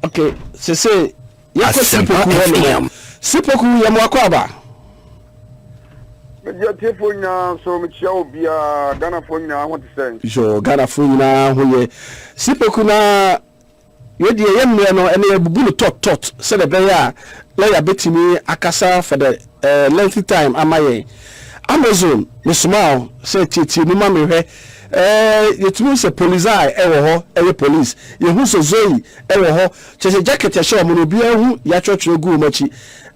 Okay, sese yɛkɔ sipoku hɔ nom. Sipoku yɛ mo akɔ aba. Mede atiefo nyinaa nso mekyia wo biara. Ghanafo nyinaa ho te sɛn? Yo, Ghanafo nyinaa ho yɛ. Sipoku na wei deɛ yɛ mmerɛ no ɛnɛ yɛbubu no tɔt tɔt sɛdeɛ ɛbɛyɛ a na yɛabɛtumi akasa for the Eh lengthy time ama yɛn. Amazon mesoma wo sɛ tietie mu ma me hwɛ eh yɛtumi hu sɛ Polizei ɛwɔ hɔ ɛyɛ police yɛhu sɛ Zoe ɛwɔ hɔ kyɛsɛ jacket ɛhyɛ ɔmo no obiara hu yɛatwerɛtwerɛ gu ɔmo akyi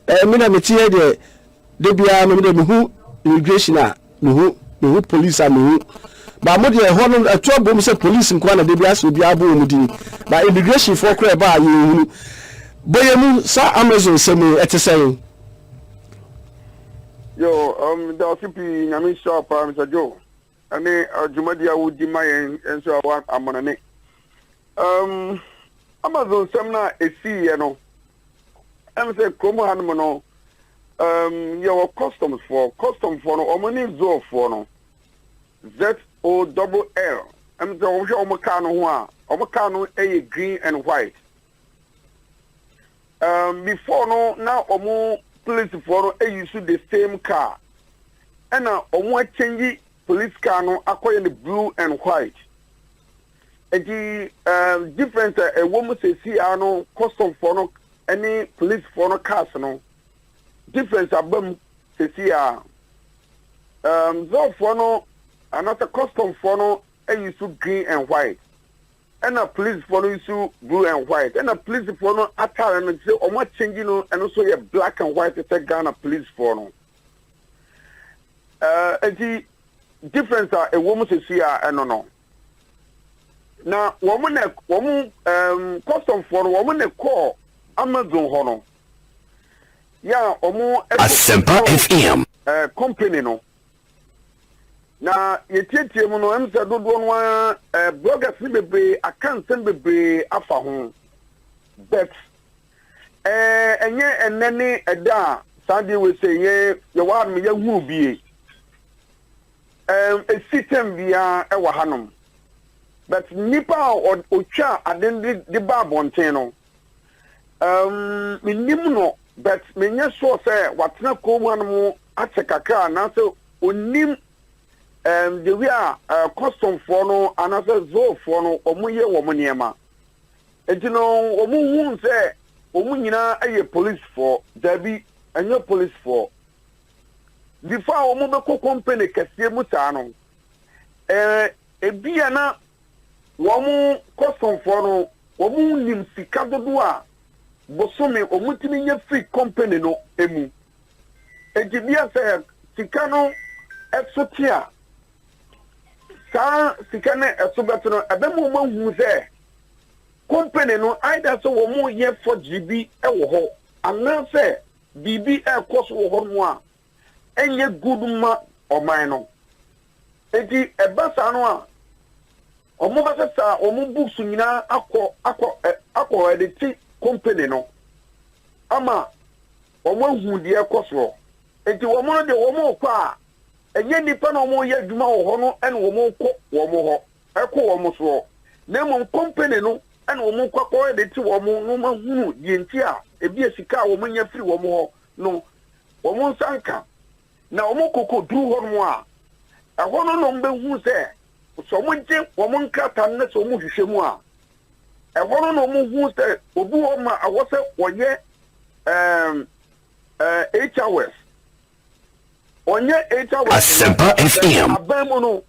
eh me deɛ mete hɛ deɛ dabiara no me deɛ mehu immigration a mehu mehu police a mehu ba mo deɛ ɛhɔ no ɛto abom sɛ police nkoa na dabi asɛ obiara bɔ wɔn din ba immigration foɔ koraa ɛba a yɛn hunu bɔyɛ mu saa amazon sɛm yi ɛte sɛn. yo um, daase pii nyame nhyira paa mr joe ɛne dwumadi a wodi ma yɛn nso a wa amanane um, amazon sɛm no a ɛsiiɛ no ɛm sɛ kurom hanom no Um, yɛwɔ customs foɔ. Custom foɔ no, wɔn ne Zol foɔ no. Z-O-double-L. Ɛmu sɛ wɔn hwɛ wɔn car no ho a, wɔn car no yɛ green and white. Um, before no, na wɔn police foɔ no ayi so the same car. Ɛna wɔn akyɛnyi police car no akɔyɛ no blue and white. Enti ɛɛm difference a ɛwɔ mu sɛsi ara no custom foɔ no ɛne police foɔ no cars no difference aba mu sɛsi ara ɛɛm zɔɔ foɔ no anasɛ custom foɔ no ɛyi so green and white ɛna police foɔ no yi so blue and white ɛna police foɔ no atare no sɛ wɔn akyɛngyi no ɛno so yɛ black and white sɛ Ghana police foɔ no ɛɛ eti difference a ɛwɔ mu sɛsi ara ɛno no. na wɔn na wɔn um, kɔsɔmfoɔ no wɔn na kɔɔ amazon hɔ no yɛ a wɔn asɛmpa fm ɛɛ company no na yɛtietie mu no ɛmu sɛ dodoɔ no ara ɛɛ bloggers no bebree aka nsɛm bebree afa ho bet. Ɛɛ, ɛnyɛ ɛnnɛ ne ɛda a saa adeɛ wei sɛ yɛn, yɛwɔ hanom, yɛahunu bi ei? Ɛɛm, ɛsi tɛm biara ɛwɔ hanom. But nipa a ɔ, ɔtwaa ade no de, de baa abɔnten no, ɛɛm, mennim no, but menyɛ sure sɛ watena kurom hanom akyɛ kakra anaasɛ ɔnnim, ɛɛm, the way a, ɛɛ, kɔstomfoɔ no anaasɛ zoofoɔ no wɔyɛ wɔn nneɛma. Enti no wɔhuu sɛ wɔn nyinaa yɛ polisfoɔ. Dabi, ɛnyɛ polisfoɔ. Before a wɔbɛkɔ company kɛseɛ mu saa no, eh, ebi a na wɔn kɔsomfoɔ no, wɔnim sika dodoɔ a bosome wɔtumi nya firi company no mu. Enti bia sɛ sika no ɛso te a, saa sika no ɛso bɛte no, ɛbɛma wɔahu sɛ Kompene no, either sɛ wɔreyɛ forgery bi wɔ hɔ anaasɛ biribi rekɔ so wɔ hɔnom a ɛnyɛ good mma ɔman no. Enti ɛba saa no a, wɔbɛsesa wɔn books nyinaa akɔ akɔ ɛ akɔ ɛdete kompene no ama wɔahu deɛ ɛkɔ soɔ. Enti wɔn no deɛ wɔrekɔ a, ɛnyɛ nnipa na wɔreyɛ adwuma wɔ hɔ no na wɔrekɔ wɔn hɔ. kɔ wɔn soɔ, na mmom kɔmpene no na wɔn kɔ kɔ de te wɔn na wɔn ahunu deɛ nti a ebia sika a wɔn nya firi wɔn hɔ no wɔn nsa nka, na wɔn kɔ kɔ duru hɔ nom a, ɛhɔ no na wɔn bɛ hunu sɛ sɛ wɔn gye wɔn nkrataa no na sɛ wɔn hwehwɛ mu a, ɛhɔ no na wɔn hunu sɛ obi hɔ ma ɛwɔ sɛ wɔyɛ ɛɛm ɛɛ HRS, wɔnyɛ HRS no, Asɛmpa FM. aban mu no.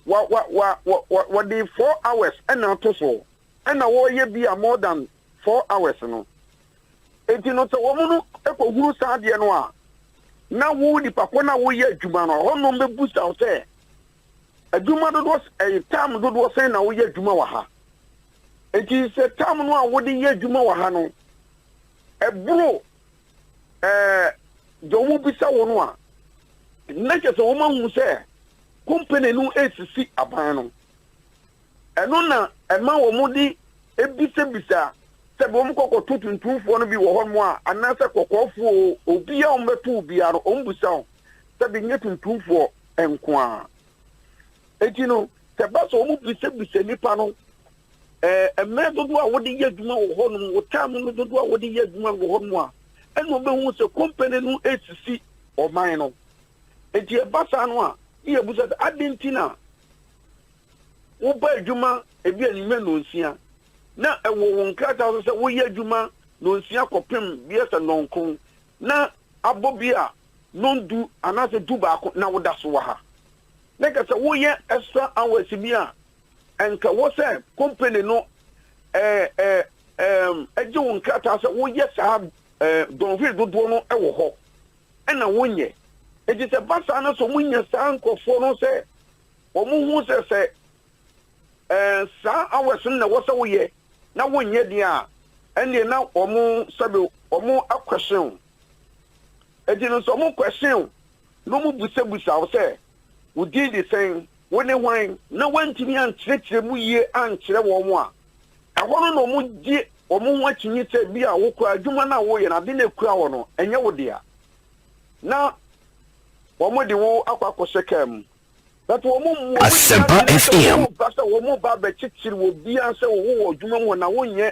wa wa wa wɔ wɔ wɔde four hours ɛna ato so ɛna wɔreyɛ bi a more than four hours no eti no sɛ wɔn no ɛkɔ huru saa adeɛ no a na wo nipa kɔ na woyɛ adwuma no hɔ nom bɛ bu sa sɛ adwuma dodoɔ ɛyɛ tam dodoɔ sɛn na woyɛ adwuma wɔ ha eti sɛ tam no a wode yɛ adwuma wɔ ha no ɛboro eh, deɛ wɔn bisa wo no a, na kyɛ sɛ wɔn ahunu sɛ company no resisi aban no. Ɛno na ɛma wɔn de ebisabisa sɛ wɔn kɔkɔto tuntumfoɔ no bi wɔ hɔnom a anaasɛ kɔkɔɔfoɔ obiara wɔn bɛto obiara no wɔn bisa wɔn sɛ de nyɛ tuntumfoɔ nko ara. Eti no sɛ ba sɛ wɔn bisabisa nipa no eh, mmerɛ dodoɔ a wode yɛ adwuma wɔ hɔ nom wo time no dodoɔ a wode yɛ adwuma wɔ hɔ nom a ɛna ɔbɛhu sɛ company no ɛsisi ɔman no nti ɛba saa no a ne yɛbu sɛ ade nti na woba adwuma ebi anwummerɛ nnɔnsia na ɛwɔ wo nkrataa so sɛ woyɛ adwuma nnɔnsia kɔpem biyɛ sɛ nnɔnkron na abɔ bi a nondu anaasɛ du baako na woda so wɔ ha na kɛ sɛ woyɛ extra hours bi a Anka wɔ sɛ company no gye wo nkrataa sɛ woyɛ saa dɔnhwere dodoɔ no wɔ hɔ na wonyɛ. Enti sɛ ba saa no sɛ wɔnya saa nkurɔfoɔ no sɛ wɔhu sɛ sɛ saa hours no na ɛwɔ sɛ woyɛ na wonyɛ deɛ a, ɛnneɛ na wɔn sɛbe wɔn question. Enti no sɛ wɔn question No mu bisabisaa wo sɛ, Wo din de sɛn? Wo ne hwan? Na woantumi ankyerɛkyerɛ mu yie ankyerɛ wɔn a, ɛhɔ no na wɔgye wɔn ho akyinnye sɛ ebia wo koraa adwuma no a woreyɛ no, ade no a ekura hɔ no, ɛnyɛ wo dea. Na wɔde wo akɔ akɔhyɛ kaa mu. But wɔn mmu wɔn ani ase na sɛ wɔreba sɛ wɔreba abɛkyekyere wɔ biara sɛ wo wɔ adwuma mu hɔ na wonyɛ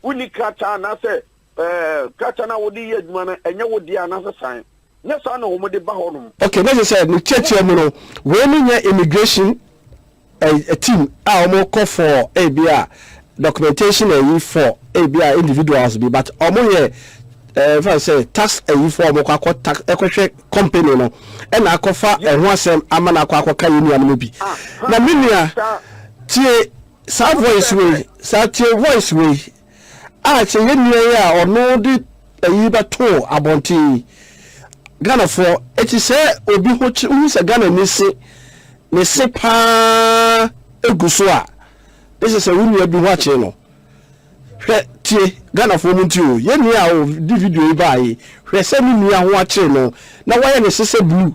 wonni krataa anaasɛ ɛɛ krataa no a wode yɛ adwuma no ɛnyɛ wo dea anaasɛ san. Nyɛ saa na wɔde ba hɔ nom. Okay na kyerɛ sɛ ne nkyerɛkyerɛ mu no wei no nyɛ immigration ɛɛ team a wɔn kɔ for ebi a documentation ɛyi for ebi a individuals bi but wɔn yɛ ɛɛ nfa no sɛ tax ɛyi for wɔn kɔ akɔ tax ɛkɔ hwɛ company no ɛna akɔ fa ɛho asɛm ama na akɔ akɔ ka yɛ nua no mu bi na me nua tie saa voice wei saa tie voice wei. a sɛ yɛn nua yi a ɔno de ayi bɛtoo abɔnten yi Ghanafoɔ ɛte sɛ obi ho kye wohu sɛ Ghana ni se ne se paa gu so a ne sɛ sɛ wo nua bi ho akye no hwɛ tie Ghanafoɔ mu nti o yɛn nua a ɔde video yi baa yi hwɛ sɛ ne nua ho akyere no na wayɛ ne se sɛ blue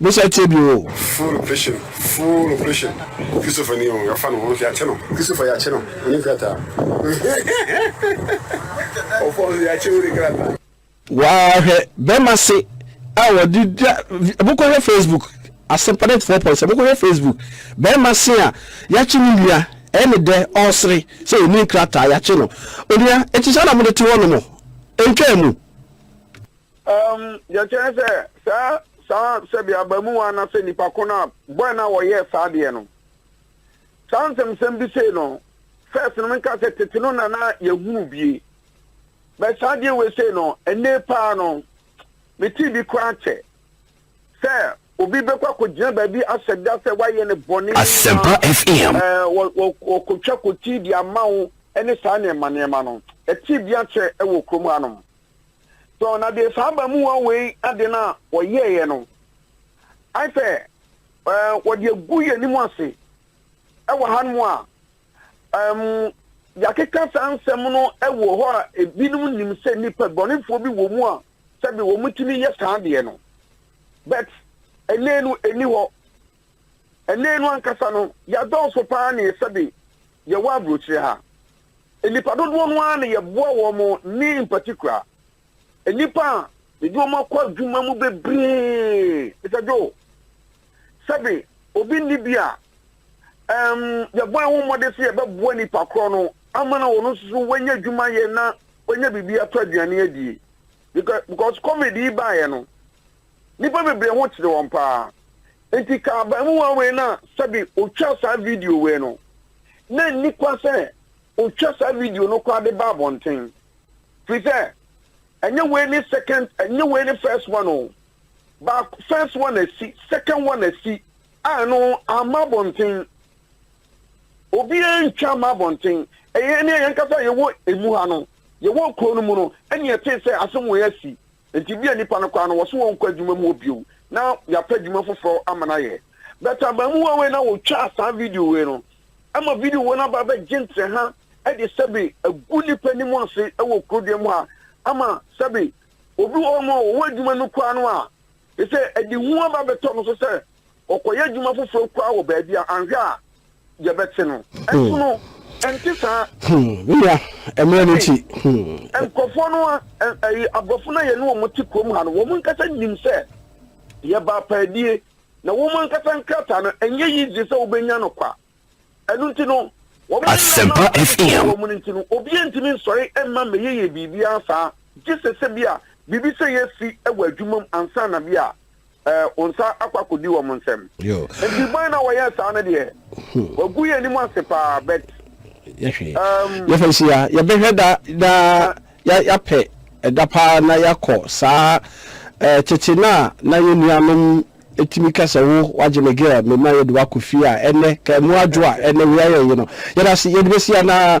Mehyɛ aseɛ bio o. Full operation full operation Christopher ni o yɛafa no hɔ nso yɛakye no Christopher yɛakye no ɔne krataa ɔfɔ nso yɛakye ɔne krataa. Waa hwɛ bɛma se a wɔde da mokɔ hwɛ Facebook Asempa 94.7 mokɔ hwɛ Facebook bɛma se a yɛakye ne nua ɛne dɛ ɔsere sɛ ɔni nkrataa yɛakye no onua ɛti saa na mode te hɔ nom ntwaa mu. Um, deɛ kyɛn sɛ saa saa sɛbi abamuwa na sɛ nipa ko no a bɔn na wɔyɛɛ saa deɛ no saa nsɛmsɛm bi sei no first no menka sɛ tete no na na yɛhunu bie bɛ saa deɛ wei sei no ɛnne paa no mete bi koraa kyɛ sɛ obi bɛkɔ akɔgyina baabi ahyɛ da sɛ wayɛ ne bɔne asɛmpa fm wɔkɔtwa kɔti de ama wo ne saa nneɛma nneɛma no ɛte bi akyɛ wɔ kurom hanom So na deɛ saa abamuwa wei ade no a wɔyɛeɛ no ayɛ sɛ wɔde agu yɛn anim ase wɔ hanom a yɛakeka saa nsɛm no wɔ hɔ a ebinom nim sɛ nnipa bɔnefoɔ bi wɔ mu a sɛbi wɔtumi yɛ saa deɛ no but ɛnɛ no ɛni hɔ Ɛnnɛ no ankasa no, yɛadɔɔso pa ara ne sɛbe yɛwɔ aburokyerɛ ha. Nnipa dodoɔ no ara na yɛboa wɔn ne mpatikura. Nnipa a yɛde wɔn akɔ adwuma mu bebree, Mister Joe, sɛbe obi nni bi a, ɛm, yɛbɔ yɛn ho mmɔden sɛ yɛbɛboa nipa korɔ no ama na ɔno nso so wanya adwuma yɛ na wanya biribi atɔ aduane adie. Because, because COVID yi baeɛ no, Nnipa bebree ho kyere wɔn paa. Enti ka abarimaa wei no a sɛbe ɔtwaa saa video wei no, na nni kwa sɛ ɔtwa saa video no koraa de ba abɔnten. Firi sɛ, ɛnyɛ wei ne second, ɛnyɛ wei ne first one o. Baako, first one asi, second one asi, a ɛno amma abɔnten. Obiara ntwa amma abɔnten. Ɛyɛ ne yɛn kasa yɛwɔ emu ha no, yɛwɔ kuro no mu no, ɛne ɛte sɛ asɛm wei asi. Enti ebia nnipa no koraa no, wɔse wɔnkɔ adwuma mu hɔ bio na yɛapɛ adwuma foforɔ ama no ayɛ. But abaamua wei no a ɔtwaa saa video wei no, ɛma video wei no aba abɛgye ntereha de sɛbe agu nnipa anim ase wɔ kurodua mu ha ama sɛbe obi wɔ hɔ nom a ɔwɔ adwuma no koraa no a, te sɛ ɛde hu aba abɛtɔ no so sɛ, Ɔkɔyɛ adwuma foforɔ koraa wɔ baabi a anhwɛ a yɛbɛte no. Ɛnso hmm. no, ɛnte saa. Hmm. Me nua, mmerɛ no nti. Hmm. Nkurɔfoɔ no, aborɔfo no a yɛne wɔn te kurom ha no, wɔn ankasa nim sɛ yɛba apaadie, na wɔn ankasa nkrataa no, ɛnyɛ yie gye sɛ wobɛnya no kwa. Ɛno nti no, wɔn a yɛn na wɔbɛbɔ wɔn mu no nti no, obiara ntumi nsɔre mma mmɛyeyɛ biribiara saa, gye sɛ sɛ bi a biribi sɛ yɛ si wɔ adwuma mu ansa na bi a wɔn nsa akɔ akɔdi wɔn nsam. Nti bɔn na wɔyɛ saa no deɛ, wɔagu yɛn anim ase paa, but yɛfa si a yɛbɛhwɛ da na yɛapɛ ɛda paa na yɛakɔ saa tete no a na yɛn nuanom Etumi ka sɛ, Wo, w'agye me girl, me ma yɛde wo akɔ fie a ɛnɛ, ka ɛmu adwo a ɛnɛ wei ayɛ ye no, yɛda ase, yɛde bɛsi anaa?